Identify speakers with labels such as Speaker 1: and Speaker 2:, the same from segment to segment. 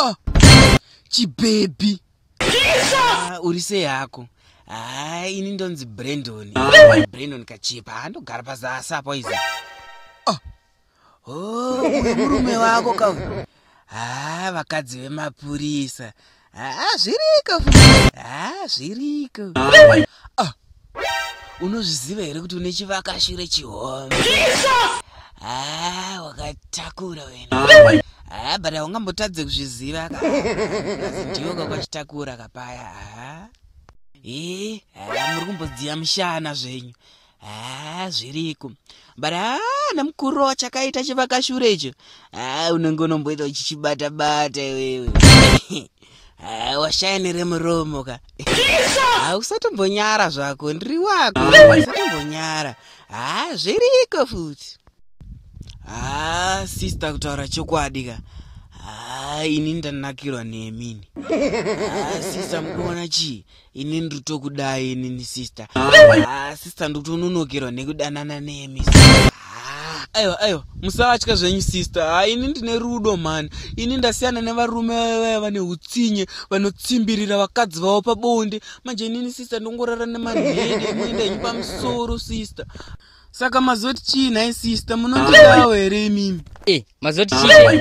Speaker 1: Oh, chibhebhi ah, uri sei hako haa ah, ini ndonzi brendon ah. brendon kachipa handogara pazasi apo izi oh, uyu murume wako ka haa ah, vakadzi vemapurisa haa ah, zviriko haa ah, zviriko unozviziva here kuti une chivakashure chihombe haa wakatakura wena haa but haungambotadze kuzviziva ka ndiwo kakwachitakura kapaya haa ee haa muri kumbodziya mushana zvenyu haa zviriko but haa namukuru chakaita chivakashure icho haa unenge unomboita uchichibata bata iwewe haa washaya neremuromo ka haa usatombonyara zvako ndiri wako usatombonyara haa zviriko futi haa sister kutaura chokwadi ka haa ini ndanakirwa nemini haa sister mukuona chii ini ndiri tokudai inini sister ah, sister ndiri kutononokerwa nekudanana nemi ah, aiwa aiwa musavatya zvenyu sister ha ah, ini ndine rudo mhani ini ndasiyana nevarume vaya vane utsinye vanotsimbirira vakadzi vavo pabonde manje inini sister ndongorara nemanhede ekuenda inyu pamusoro sister saka mazoti chii nhai sister munondidawo here imimi e eh, mazoti
Speaker 2: chii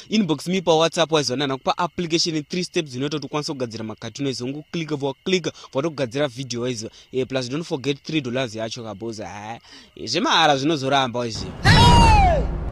Speaker 1: inbox me pa whatsapp waizoona nakupa application 3 steps dzinoita kuti ukwanise kugadzira makatuni waizo ungu click vwa click vatokugadzira video waizo e, plus don't forget 3 dollars yacho kaboza ha eh, zvemahara zvinozoramba waiziva